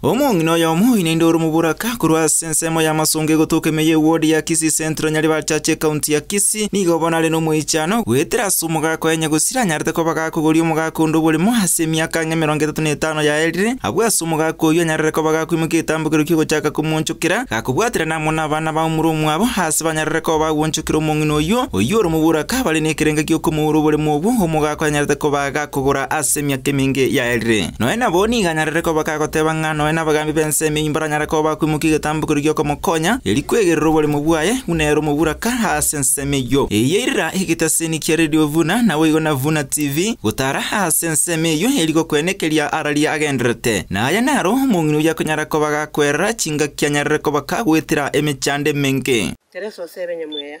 Omong'ina oyomo oinainda ore omoboraka korwa ase ensemo y'amasongo egotoka ime y'ewodi ya Kisii Central Nyaribachachi ekaunti ya Kisii nigo bono are nomoichano goetera ase omogaka oye nyagosiri anyarete koba gakogoria omogaka onde oborimo ase emiaka ang'e emerongo etato na etano yaerire abwo ase omogaka oyio anyarere koba gakoimokia egetambokero ki'ogochaka komoonchokera gakobwaterana amo nabana b'aumore omwabo ase banyarere koba bagoonchokera omong'ina oyio oyio ore omoboraka bare nekerengo gi'okomoura oboremo obwo omogaka oyo anyarete koba gakogora ase emiaka emenge yaerire. Nonya nabo nigo anyarire koba kagoteba ng'a nonya nabagaambi b'ensemo eyio mbaranyare koba akwimokia egetambo keria gi'okomokonya, erio kwegerera oboremu bwaye, buna ere omoburaka aase ensemo eyio. Eyio yairira egeteseni kia Radio Vuna, naboigo na Vuna TV, gotara aase ensemo eyio eri gokwena ekeria araria agendererete. Na aya naro omong'ina oyio akonyara koba gakwerera chingaki anyarire koba kagoetera emechando emenge. Tereso ase ebenyamweya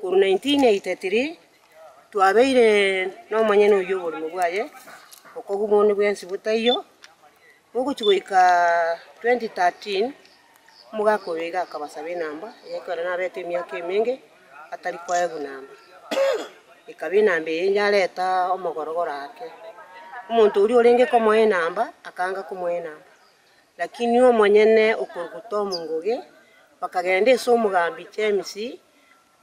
Korwa 1983 twabeire nomonyene oyio oborimo bwaye bokogwa bono bwensi botaiyo, gogochi goika 2013 omogaka oyo iga akabasaba enamba eye ekero nabete emiaka emenge atari koegwa namba. Ekaba enamba eye yareta omogorogoro ake, omonto oria orenge komoa enamba akanga komoa enamba, lakini omonyene okoruga Tom Ngugi bakagenda ase omogambi James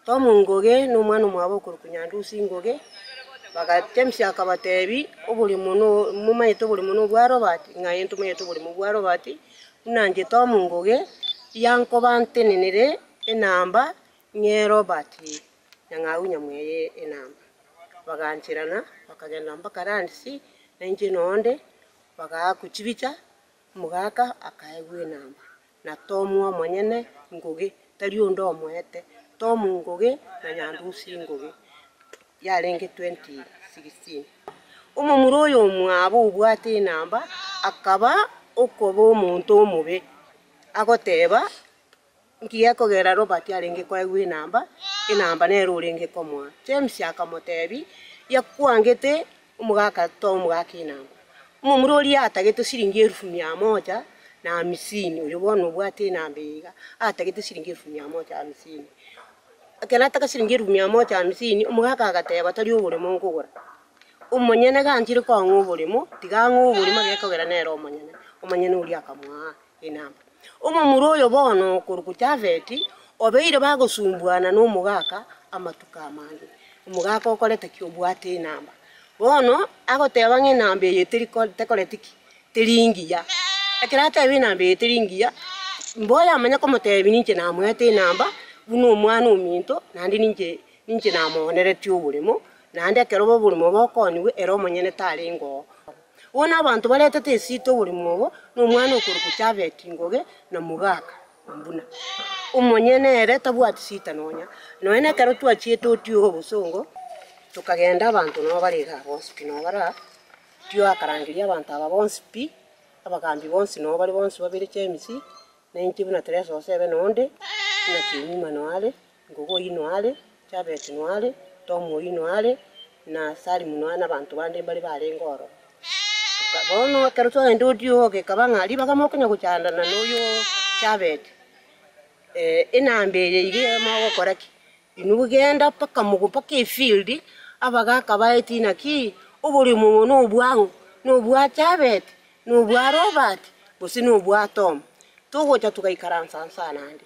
Tomu Ngugi nomwana omwabo okorokwa Nyandusi Ngugi, baga James akabatebi, oborimo no momanyete oborimo no bwa Robert? Ng'a aye ntomanyete oborimo bwa Robert, buna inche Tomu Ngugi yankobantenenire enamba ng'e Robert Nyang'au nyamweya enamba. Bagaancherana bakagenda mpaka Randisi, nainche noonde, bagaakwa chibicha. Omogaka akaegwa enamba, na Tomu omonyene ngoge, tari onde omoete, Tomu ngoge, na Nyandusi ngoge, yarenge 2016. Omomura oyo omwabo obwate enamba akaba okoba omonto omobe, agoteba, Nki gekogera Robert arenge koegwa enamba? Enamba nere orenge komoa. James akamoteebia, Ia kwangete omogaka toa omogaka enamba. Omomura oria atagete siringi elufu mia moja na hamisini, oyo bono obwate enamba eye iga, atagete siringi elufu mia moja hamisini. Ekero nataka siringi elufu mia moja hamisini, omogaka agateeba, Tari oboremo nkogora. Omonyene ganchire koang'aa oboremo, tiga ang'aa oboremo gekogera nere omonyene. Omonyene oria akamoa. Inama. Omomura oyo bono okorokwa Jafeti obeire bagosumbuana nomogaka amatuko amange. Omogaka okorete ki? Obwate inama. Bono agoteba ng'a inama eye teri tekoreti ki? Teri engiya. Ekero ateba inama eye teri engiya, mboyamanye komotebi ninche namoete inama buna omwana ominto naende ninche ninche namooneretie oboremo, naende ekero oboremo bokoniwe ere omonyene tarenge oo. Bono abanto baretete esito bore mogo, na omwana okorokwa Javeti ngoge, na mogaka, buna omonyene ere tabwati sita nonya. Nonya nekero twachiete otiora obosongo, tokagenda abanto nabo bare igaa bonsi pi nabo baraa, tioakarangeria abanto aba bonsi pi, abagaambi bonsi nabo bare bonsi babere Chemisi, na inche buna Teresa Josebe na onde, buna Chemima nao are. Gogu oino are, Jabesi noare, Tomu oino are, na Salimu noare, na abanto bande mbare barenge oro. Toka bono ekero twagenda odioka, ekaba ng'a ribaga mokonya gochandana noyo Jabesi, eh, enamba eye iga iga mogokora ki? Inwe genda mpaka mogo mpaka efield, abagaka baete inaki, oboremo obo nobwang'u? Nobwa Jabesi? Nobwa Robert? Gose nobwa Tomu? Togocha togaikaransa nsa naende.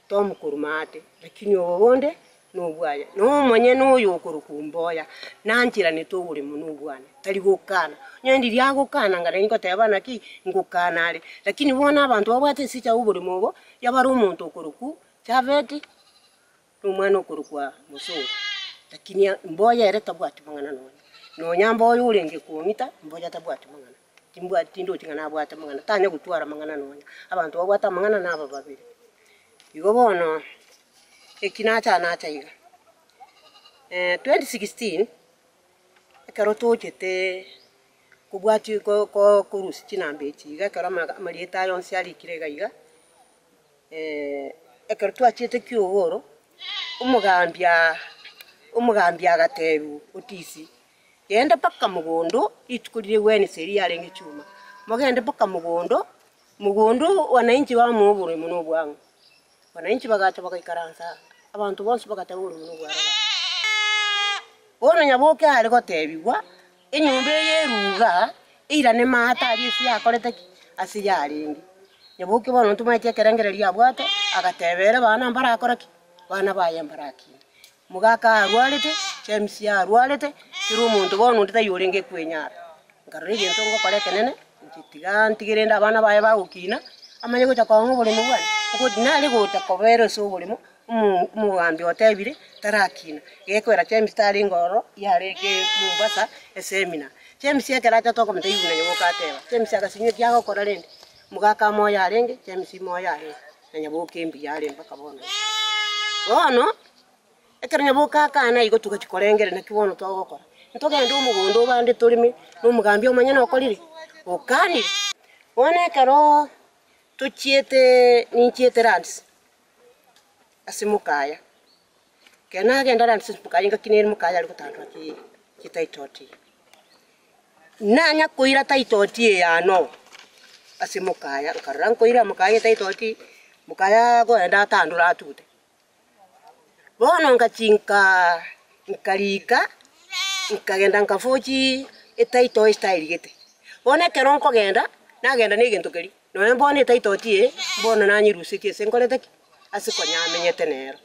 Tomokoruma aate, lakini obo bonde nobwaye, na omonyene oyo okorokwa omboya nanchiranete ogore mono obwane, tari gokana. Onye ndiria agokana ngare ningoteba naki, ngokana are. Lakini bono abanto babwate ense chiabo oborimo obo, yabare omonto okorokwa Javeti, na omwana okorokwa Mosori, lakini mboya ere tabwati mang'ana nonya. Nonya mboya orenge kong'ita, mboya tabwati mang'ana. Timbwati, tindochi ng'a nabwate amang'ana, tanya gotwara amang'ana nonya. Abanto babwate amang'ana naba babere. Igo bono eki nachaa nacha iga. twenty sixteen, ekero tochete kobwati ko ko korusia chinamba echi iga ekero ama amarieta aya onsi arikire iga iga, ekero twachiete kiagoro, omogambi aa, omogambi agatebia otisi. Genda mpaka mogondo, rituko riria Wednesday erio yarenge chuma, mogende mpaka mogondo, mogondo wananchi bamoa oborimo na obwang'u. Wananchi bagacha bagaikaransa aa, abanto bonsi bagateba oborimo nobware bare. Bono nyaboke are gotebigwa, enyomba eye eruga, eirane maate aria ase yakorete ki? Ase yarenge. Nyaboke bono ntomanyeti ekerengererio abwate, agatebera abana mbarakore ki? Abana baye mbarakinde. Mogaka arwarete, James arwarete, teri omonto bono onde taiyo orenge kwenyara. Nkarora egento ngokora ekenene, inche tiga ntige rende abana baye bagokina, amanye gocha koanga oboremu bwane. Okot nare gocha kobera ase oboremo, omo omogambi otebire tarakina. Gekoera James tarenge ororo, yarenge Mombasa esemina. James ekero achete okomotebia buna nyomba oka ateba, James agasinywa ekiagokora rende. Mogaka moyo arenge, James moyo arenge. na nyaboke embuya are mpaka bono iga. Bono, ekero nyaboke akana igo togachia korengera naki bono togokora? Ntogende omogondo obande toreme na omogambi omonyene okorire? Okanire. Bono ekero tochiete ninchiete lands ase mokaya, ekero nagenda lands ase mokaya ngaki nere mokaya are gotandora chi- chititle. Nanya koira taitoti eyano ase mokaya, nkarora nkoira mokaya etaitoti, mokaya agoenda atandora atute. Bono ngachinka nkariika, nkagenda nkafochi etaito ase taerigete. Bono ekero nkogenda, nagenda negento keria, nonye bono etaitoti eye, bono nanyerusetie ase nkorete ki? Ase konyamenyete nero.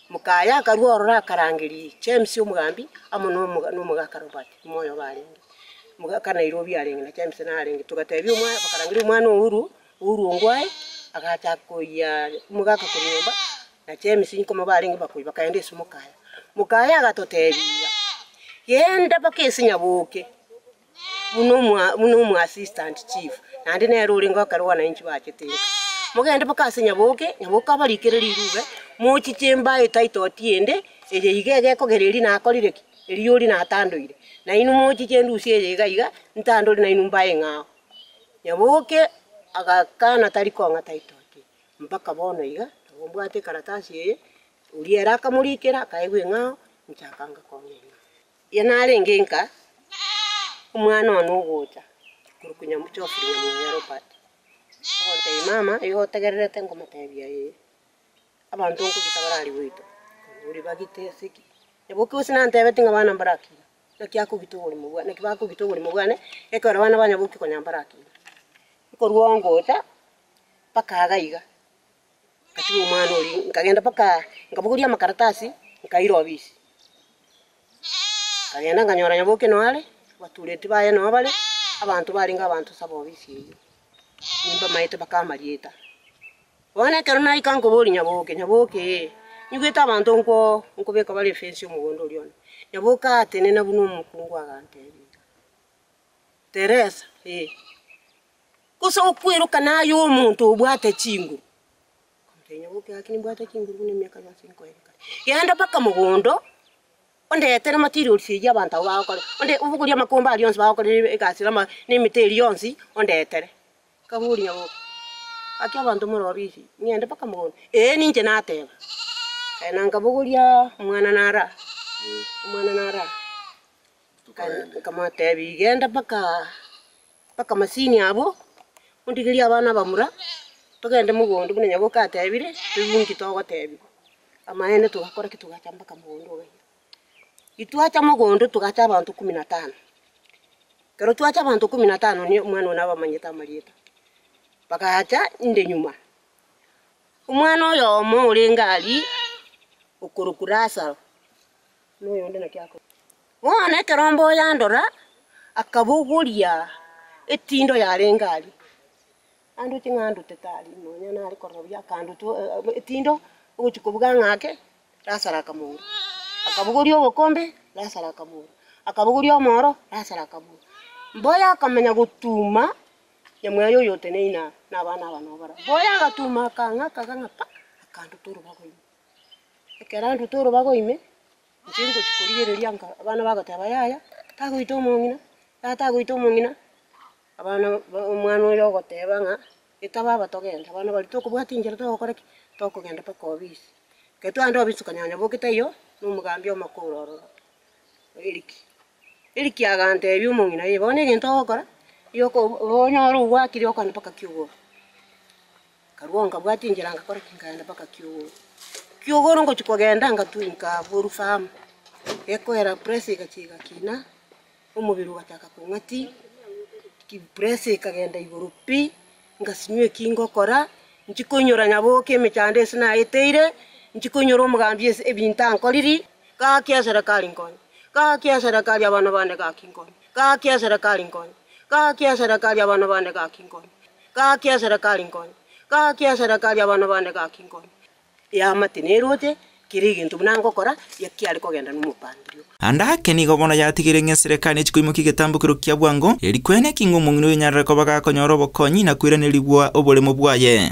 Moka aye akarua ororo akarangeria James omogambi amo nomo nomogaka Robert, ime oyobe arenge mogaka Nairobi arenge na James narenge. Togatebia omwana bakarangeria omwana Uhuru, Uhuru ongo aye agachaka koyia omogaka korwa nyomba na James nkomo barenge bakoyia bakaenda ase moka aye. Moka aye agatotebia, genda mpaka ase nyaboke buna omo buna omo assistant chief, naende nere orenge ekero bwananchi bachete inka. Mogende mpaka ase Nyaboke, Nyaboke abarikere rirube, mochie chimbae etaitoti ende, eye iga iga ekogera eria nakorire ki? Eria oria natandoire. Na inwe mochie chendusia eye iga iga, ntandore nainwe mbae ng'ao. Nyaboke agakana tari kong'a taitoti eye, mpaka bono iga, nabo mbwate ekaratasi eye, oria ere akamorikera akaigwa eng'ao, nchakanga kong'a eng'ao. Erio narenge nka omwana one ogocha korokwa Nyamuchofiri nyamwere Robert, agontebia, Mama, igo otegererete nkomotebia eye? Abanto nkogita barari goitwa, ore bagite ase ki? Naboki gose nantebeti ng'a bana mbarakina, naki akogita oborimo bwane, naki bakogita oborimo bwane, ekero bana ba nyaboki konya mbarakina. Ekorwa ongocha, mpaka iga iga. Ngatiga omwana oria, nkagenda mpaka nkabogoria amakaratasi, nkaira obisi. Nkagenda nkanyora Nyaboke noo are, abatureti baye noo bare, abanto barenge abanto saba obisi eyio, nimbamaete mpaka amarieta. Bono ekero naika nkoboria Nyaboke, Nyaboke ee, nyigwete abanto nkwo nkobeka bare efensi y'omogondo oria one. Nyaboke atenena buna omokungu agantebia, Teresa ee, gose okweroka naye omonto obwate chinguru. Akamotebia, Nyagwe, oke ake nimbwate chinguru buna emiaka yonsi nkoeire kare. Genda mpaka mogondo, ondetere materials eyio abanto abwo bagokorera, onde obogorie amakomba aria onsi bagokorera ebe egasi na ama na emete eria yonsi ondetere. Akaboria nyagwe, Gaki abanto morobia ise, ng'ende mpaka mogondo? Ee, ninche nateba. Aya na nkabogoria omwana nare aa, omwana nare aa. Akamoteebia, Genda mpaka masini abwo, ondigerie abana abamura, togende mogondo buna nyabwo kateebire, toigwe inki togoteebigwa. Amaene togakora ki? Togacha mpaka mogondo oo gaiga. Titwacha mogondo togacha abanto ikomi na tano. Ekero twacha abanto ikomi na tano nigo omwana oyo nabamanyete amarieta. Bagacha inde nyuma. Omwana oyomo orenge aria, okorokwa Lasaro. noyonde naki akore. Bono ekero Mboyo yandora, akabogoria etindo yarenge aria. Andute ng'a andute tari nonya nare korora buya, akandutu etindo ogochia kobuga ng'a ake, Lasaro akamora. Akabogoria obokombe, Lasaro akamora. Akabogoria omoro, Lasaro akamora. Mboyo akamenya gotuma nyamweya oyoteneine aa, na abana aba nabo barabwo. Mboyo agatuma akang'aka akang'a pa, akanduta orobago ime. Ekero arwete orobaga ime, inche ngochia korigereria nka abana bagoteba, yaya, tagoita omong'ina, yaya tagoita omong'ina, abana ba omwana oyo ogoteba ng'a eta baba togende, abana baria tokobwati inchera togokora ki? Tokogenda mpaka obisi. Ekero twagenda obisi okonyora nyaboki taiyo, na omogambi omokooro ororo, Eric. Eric agantebi omong'ina ee bono egento ogokora, yokobu oonyore obwakire okogenda mpaka kiugoro. Nkarua nkabwata enchera ngakora ki? Nkagenda mpaka Kiogoro. Kiogoro ngochia kogenda ngatwika nkaboru farm, gekoera pressure egachia egakina, omobere ogachaka kong'a ti, ki pressure ekagenda igoro pi, ngasimia eki ngokora, nchi koinyora nyaboke emechando ase naeteire, nchi koinyora omogambi ase ebinto ankoriri, gaki eserekari nkonye, gaki eserekari abana bane gaki nkonye, gaki eserekari nkonye, gaki eserekari abana bane gaki nkonye. Gaki eserekari nkonye, gaki eserekari abana bane gaki nkonye. Eamate neroche, kera egento buna ngokora, ekiare kogenda nomopandirio. Ande ake nigo bono yatigeire ng'a eserekari nechi koimokia egetambokero kia bwango, eeri kwene ki ng'a omong'ina oyonyarare koba gakonyora obokonyi na koiranerigwa oboremo bwaye.